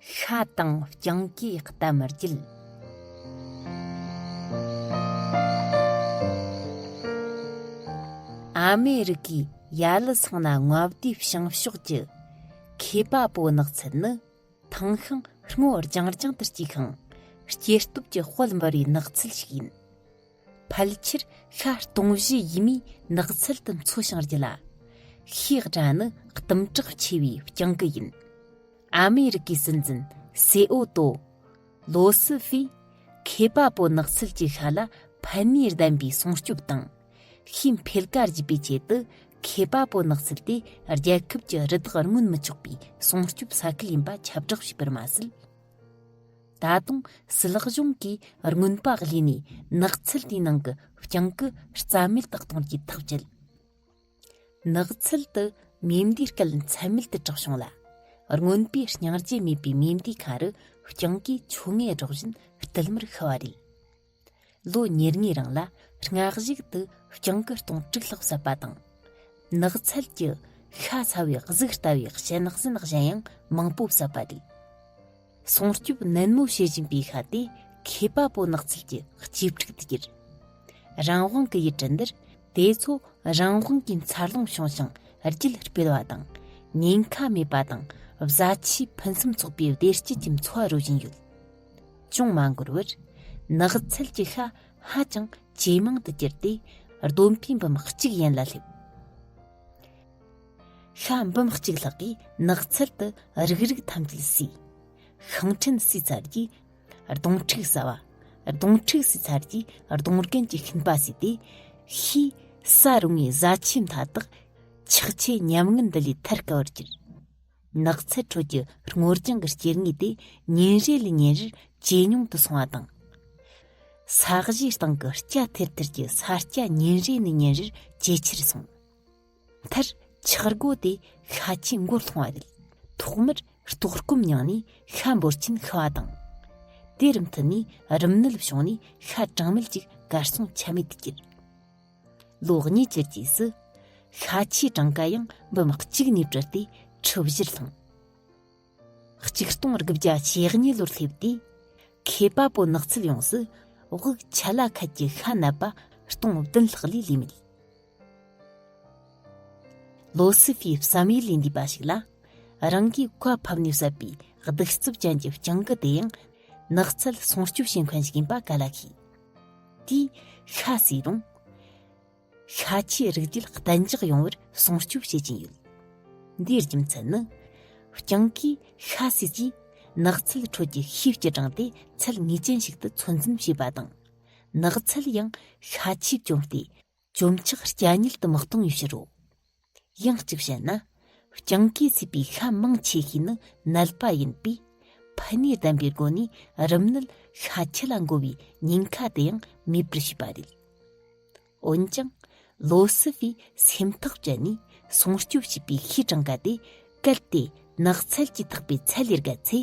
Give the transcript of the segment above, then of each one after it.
ཤ་དང་རྐྱང་གིས་གཏམ་མི་བརྒྱུད། ཨ་མེ་རི་ཀའི་ཡ་ལི་ཚང་ན་རྔ་བསྡུའི་བྱང་ཕྱོགས་ཀྱི་མཁས་པ་པོ་ནགས་ཚལ་ནི་ཐང་ཤིང་སྔོ་རྒྱང་རྒྱང་དུ་སྐྱེས་ཤིང་སྐྱེ་སྟོབས་ཀྱི་དཔལ་འབར་བའི་ནགས་ཚལ་ཞིག་ཡིན། ཕལ་ཆེར་ཤ་སྟོང་བཞི་ཡི་མིས་ནགས་ཚལ་དུ་འཚོ་ཞིང་རྒྱུ་ལ། ཤེས་བྲ་ནི་གཏུམ་དྲག་ཆེ་བའི་སྤྱང་ཀི་ཡིན། ཨ་མེ་རི་ཀའི་སྲིད་འཛིན་སེ་ཨོ་ཏོ། ལོ་སི་ཧྥེ། ཁེ་པ་པོ་ནགས་ཚལ་གྱི་ཤ་ལ་ཕན་ནུས་ལྡན་པའི་སྲུང་སྐྱོབ་དང། ཤིང་འཕེལ་ཀ་བརྒྱུད་པའི་ཆེད་དུ་ཁེ་པ་པོ་ནགས་ཚལ་དེ་རྒྱལ་ཁབ་ཀྱི་རི་དྭགས་རྔོན་མི་ཆོག་པའི་སྲུང་སྐྱོབ་ས་ཁུལ་ཡིན་པ་ཁྱབ་བསྒྲགས་བྱས་པར་མ་ཟད། ད་དུང་སུལ་ལག་གཞུང་གིས་རྔོན་པ་གླས་ནས་ནགས་ཚལ་དེའི་ནང་གི་རྐྱང་གི་རྩ་མེད་དུ་གཏོང་རྒྱུའི་ཐག་བཅད། ནགས་ཚལ་དུ་མེ་མདའི་སྐད་མཚན་མེད་དུ་གྲགས་བྱུང་ལ། རྔོན་པས་བརྙང་བྱེད་མེད་པའི་མེ་མདའི་ཁ་རུ་རྐྱང་གིས་ཆུ་ངད་སྒྲོག་བཞིན་བསྟུད་མར་ཤི་བ་རེད། ལོ་ཉེར་གཉིས་རིང་ལ་སྔགས་གཞུག་ཏུ་སྤྱང་སྐུ་སྟོང་དཀྲུག་ལྷག་བསད་པ་དང། ནགས་ཚལ་གྱི་ཤ་ཚ་བའི་གཟུགས་ལྟ་བུའི་ཞལ་ནག་སེན་ནག་གཞན་ཡང་མང་པོ་བསད་པ་དེས། སྲུང་སྐྱོབ་ནན་མོ་བྱེད་བཞིན་པའི་ཤ་དེ་མཁས་པ་པོ་ནགས་ཚལ་གྱི་སྐྱེ་ཕྲུག་ཏུ་གྱུར། རང་དབང་གི་ཡུལ་གྲུ་འདིར་དེ་ཚོ་རང་དབང་གི་འཚར་ལོངས་བྱུང་ཞིང་རྒྱུད་སྤེལ་བ་དང། ཉེན་ཁ་མེད་པ་དང་བཟའ་ཆས་ཕུན་སུམ་ཚོགས་པའི་བདེ་སྐྱིད་ཀྱི་འཚོ་བ་རོལ་བཞིན་ཡོད། ཅུང་མ་འགོར་བར་ནགས་ཚལ་གྱི་ཤ་ཧ་ཅང་ཇེ་མང་དུ་གྱུར་ཏེ་གདོན་ཕའི་འབུམ་གཅིག་ཡན་ལ་སླེབས། ཤ་འབུམ་གཅིག་ལྷག་གིས་ནགས་ཚལ་དུ་རུག་རུག་ཐམས་ཅད་བསུས། ཤིང་ཕྲན་བསུས་ཚར་རྗེས་གདོང་ཕྲུག་ཟ་བ། གདོང་ཕྲུག་བསུས་ཚར་རྗེས་གདོང་རྒན་གྱི་ཤིང་པ་བསུས་ཏེ། ཤེས་བྱ་རུང་བའི་བཟའ་ཆས་མཐའ་དག་ཆགས་ཆེ་ཉམས་ངན་འདི་ལས་ཐར་དཀའ་བར་གྱུར། ནགས་ཚལ་ཁྲོད་ཀྱི་སྔོ་ལྗང་གི་སྐྱེ་དངོས་དེ་ཉིན་རེ་ལས་ཉིན་རེར་ཇེ་ཉུང་དུ་སོང་བ་དང། ས་གཞིའི་སྟེང་གི་སྐྱ་ཐེར་ཐེར་གྱི་ས་སྐྱ་ཉིན་རེ་ནས་ཉིན་རེར་ཇེ་ཆེར་སོང། མཐར་འཁྱགས་སྒོ་དེ་ཤ་ཆེན་མགོར་ལྷུང་བ་རེད། ཐོག་མར་ལྟོགས་སྐོམ་མྱངས་ནས་ཤ་འབོར་ཆེན་ཤི་བ་དང། དེར་མཐུད་ནས་རིམས་ནད་བྱུང་ནས་ཤ་གྲངས་མེད་ཅིག་གར་སོང་ཆ་མེད་དུ་གྱུར། ལོ་གཉིས་ཀྱི་རྗེས་སུ། ཤ་ཆེའི་གྲངས་ཀ་ཡང་འབུམ་གཅིག་ནས་བྲལ་ཏེ་ཁྲི་བཞིར་ལྷུང། གཅིག་སྟོང་དགུ་བརྒྱ་ཞེ་གཉིས་ལོར་སླེབས་དུས། མཁས་པ་པོ་ནགས་ཚལ་ཡོངས་སུ་དབུགས་ཆད་ལ་ཁད་ཀྱི་ཤ་གནད་པ་སྟོང་བདུན་ལྷག་ལས་ལུས་མེད། ལོ་སི་ཧྥིའི་བསམ་ཡུལ་ལས་འདས་པ་ཞིག་ལ། རང་གིས་བཀའ་ཕབ་ནས་བསད་པའི་གདུག་རྩུབ་ཅན་གྱི་སྤྱང་ཀི་དེ་ཡང་ནགས་ཚལ་སྲུང་སྐྱོབ་བྱེད་མཁན་ཞིག་ཡིན་པ་ག་ལ་ཤེས། དེས་ཤ་བསྲེས་རུང། ཤ་ཆེའི་རིགས་རྒྱུད་གཏན་འཇགས་ཡོང་བར་སྲུང་སྐྱོབ་བྱེད་ཀྱིན་ཡོད། འདིའི་རྒྱུ་མཚན་ནི། རྐྱང་གི་ཤ་བསྲེས་ཀྱིས་ནགས་ཚལ་ཁྲོད་ཀྱི་ཤེའུ་སྐྱི་དྲངས་ཏེ་ཚད་ངེས་ཅན་ཞིག་ཏུ་ཚོད་འཛིན་བྱེད་པ་དང། ནགས་ཚལ་ཡང་ཤ་ཆེས་བསྐྱོམས་ཏེ། བཅོམ་ཆག་སྐྱ་ཉིལ་དུ་མི་གཏོང་བའི་ཕྱིར་རོ། ཡང་གཅིག་བཤད་ན། རྐྱང་གའི་ཚིག་པའི་ཤ་མང་ཆེ་ཤོས་ནི་ནད་པ་ཡིན་པས། ཕུ་ནད་ལྡན་པའི་སྒོ་ནས་རིམས་ནད་ཤ་ཆེ་ལ་འགོ་བའི་ཉེན་ཁ་དེ་ཡང་མེད་པར་བྱེད་པ་རེད། འོན་ཀྱང། ལོ་སི་ཝི་སེམས་ཐག་བཅད་ནས་སྲུང་སྐྱོབ་བྱས་པའི་ཤའི་གྲངས་ཀ་དེ་གལ་ཏེ་ནགས་ཚལ་གྱི་ཐག་པའི་ཚད་ལས་བརྒལ་ཚེ།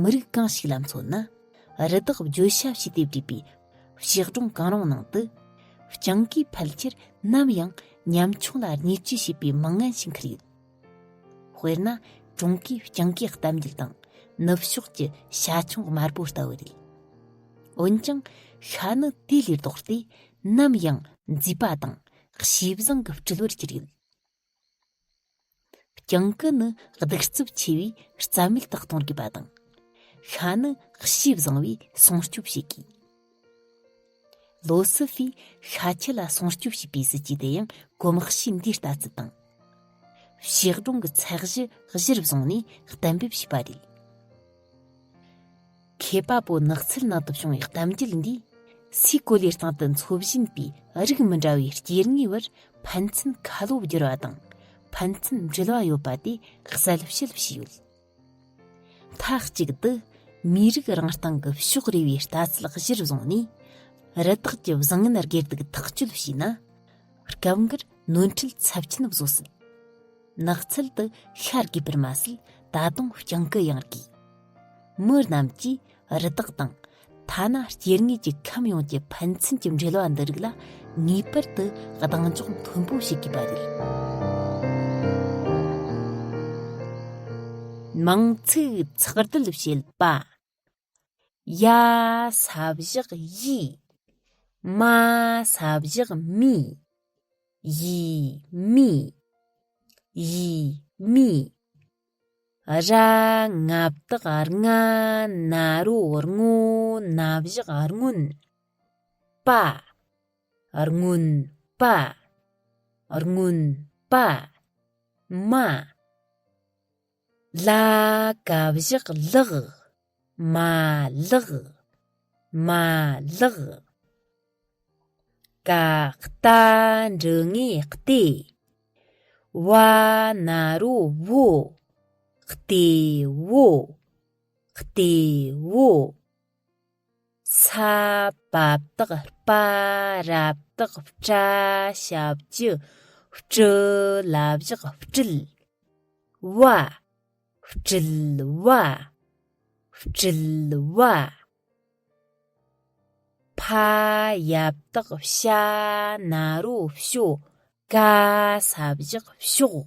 མི་རིགས་གང་ཞིག་ལ་མཚོན་ན་རི་དྭགས་བརྗོད་བྱ་བྱས་ཏེ་བྲིས་པའི་གཤེགས་སྒྲུང་གང་རུང་ནང་དུ་སྤྱང་ཀིས་ཕལ་ཆེར་ནམ་ཡང་ཉམ་ཆུང་ལ་བརྙས་བཅོས་བྱས་པའི་མི་ངན་ཞིག་འཁུར་ཡོད། དཔེར་ན་ཀྲུང་གོའི་སྤྱང་ཀིའི་གཏམ་རྒྱུད་དང་ནུབ་ཕྱོགས་ཀྱི་ཤ་ཆུང་དམར་པོ་ལྟ་བུ་རེད། འོན་ཀྱང་ཤ་ནི་དེ་ལས་ལྡོག་སྟེ་ནམ་ཡང་མཛེས་པ་དང་གཤིས་བཟང་གི་སྤྲུལ་བར་གྱུར་ཡོད། གྱང་སྐུད་ནི་གདུག་རྩུབ་ཆེ་བས་རྩ་མེད་དུ་གཏོང་དགོས་པ་དང། ཤ་ནི་གཤིས་བཟང་བས་སྲུང་སྐྱོབ་བྱེད་དགོས། ལོ་སི་ཧྥིས་ཤ་ཁྱི་ལ་སྲུང་སྐྱོབ་བྱེད་པའི་སྲིད་ཇུས་དེ་ཡང་གོམ་གཤིས་འདིའི་ལྟ་ཚུལ་དང། ཕྱིར་གཏོང་གི་ཚད་གཞི་གཞིར་བཟུང་ནས་གཏན་འབེབས་བྱས་པ་རེད། མཁས་པ་པོ་ནགས་ཚལ་ནང་དུ་བྱུང་བའི་གཏམ་རྒྱུད་འདིས་སའི་གོ་ལའི་སྟེང་དུ་འཚོ་བཞིན་པའི་རིགས་མི་འདྲ་བའི་སྐྱེ་དངོས་བར་ཕན་ཚུན་ཁ་ལོ་བསྒྱུར་བ་དང་ཕན་ཚུན་འབྲེལ་བ་ཡོད་པ་དེ་གསལ་བཤད་བྱས་ཡོད། མཐའ་གཅིག་ཏུ་མིའི་རིགས་རང་སྟེང་གི་ཕྱོགས་རེ་བའི་ལྟ་ཚུལ་གཞིར་བཟུང་ནས་རི་དྭགས་ཀྱི་བཟང་ངན་སྒེར་སྡུག་ཐག་གཅོད་བྱས་ན་སྐབས་འགར་ནོར་འཁྲུལ་ཚབས་ཆེན་བཟོ་སྲིད། ནགས་ཚལ་དུ་ཤར་དགོས་པར་མ་ཟད་ད་དུང་རྐྱང་ཀི་ཡང་དགོས། མི་རྣམས་ཀྱིས་རི་དྭགས་དང། ཐ་ན་སྐྱེ་དངོས་ཀྱི་ཁམས་ཡོངས་ཀྱི་ཕན་ཚུན་གྱི་འབྲེལ་བ་འདི་རིགས་ལ་ངེས་པར་དུ་གདེང་འཇོག་མཐོན་པོ་བྱེད་དགོས་པ་རེད། མང་ཚོགས་ཚགས་དྲིལ་བྱེད་པ། ཡ། ས་བཞག་ཡི། མ། ས་བཞག་མི། ཡི། མི། ཡི། མི། ར། ང་བདག་རྔ། ན་རོ་རྔོ། ན་བཞག་རྔོན། པ། རྔོན། པ། རྔོན། པ། མ། ལ་ཀ་བཞག་ལག། མ་ལག། མ་ལག། ཀ་རྟ་འབྲུ་ལྔའི་ལྟེ། བ་ན་རོ་བོ། ལྟེ་བོ། ལྟེ་བོ། ས་བབས་དག་པ་རབ་དག་བཀྲ་ཞབས་ཀྱི་སྤྲུལ་བླ་བཞག་སྤྲུལ་བ། སྤྲུལ་བ། སྤྲུལ་བ། ཕ་ཡབ་དག་བྱ་ན་རོ་བྱོ་ག་ས་བཞག་བྱོག།